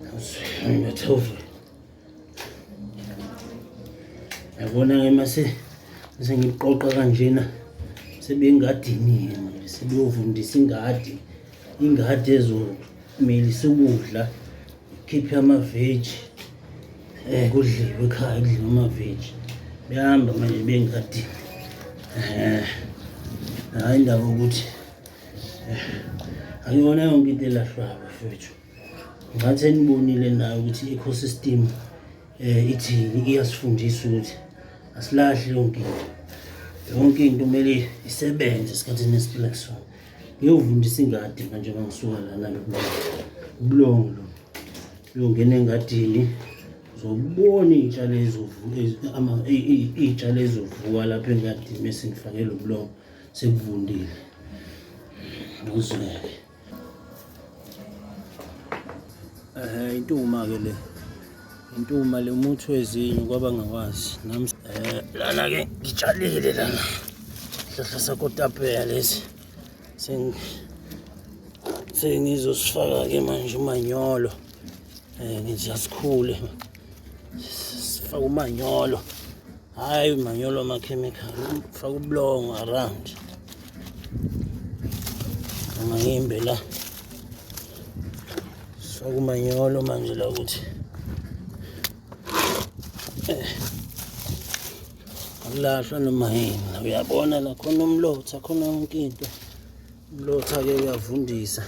Ngathofa. Yabona ke mase sengiqoqa kanjena sebengadini yena sebeyovundisa ingadi ingadi ezomilisa ukudla khiphe amaveji um eh, kudliwe ekhaya kudliwe amaveji behamba manje bengadini um hhayi indaba ukuthi eh, akuyona yonke into elahlwako fethu ngathi enibonile nayo ukuthi i-ecosystem um ithini iyasifundisa ukuthi asilahli yonke into yonke into kumele isebenze esikhathini esiphila kusona ngiyovundisa ingadi manje ngangisuka lana ubulongo lo uyongena engadini zobona iy'tshalo iy'tshalo ezovuka lapho engadini bese ngifake lo bulongo sekuvundile uzweke Eh intuma ke le. Intuma le umuthi wezinyo kwaba ngakwazi. Nami eh lana ke ngitshalile lana. Hlahla sakotapela lesi. Sing sengizosifaka ke manje umanyolo. Eh ngizasikhule. Sifaka umanyolo. Hayi manyolo amakhemikhali faka ubulongo around angayimbe la sifaka umanyolo manje la ukuthi eh. akulahlwa noma yini uyabona la khona umlotha khona yonke into umlotha-ke uyavundisa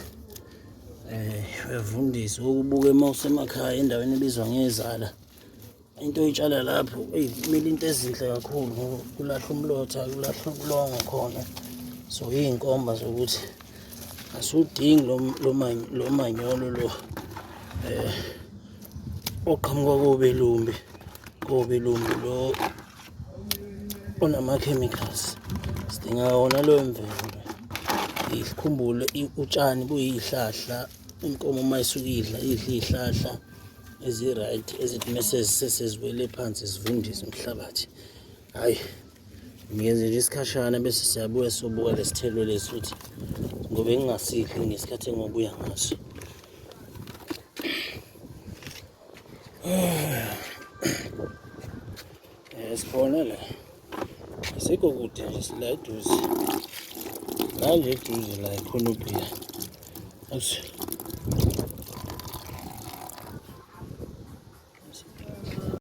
um uyavundisa ukubuka uma usemakhaya endaweni ebizwa ngezala into oyitshala lapho eyi kumele into ezinhle kakhulu ngoba kulahlwa umlotha kulahlwa ubulongo khona so iy'nkomba zokuthi asiwudingi lo manyolo lo um oqhamuka kobelumbi kobelumbi lo onama-chemicals sidinga wona loyo mvelo ikhumbule utshani buyihlahla inkomo uma isukidla idla iy'hlahla ezi-right ezithi mese seseziwele phansi zivundise umhlabathi hhayi ngiyenze nje isikhashana bese siyabuya sobuka lesithelo lesi ukuthi ngoba engingasidli ngesikhathi engobuya ngaso Eh, sibona la asikho kude nje sila eduze la nje eduze la ikhona ubhiya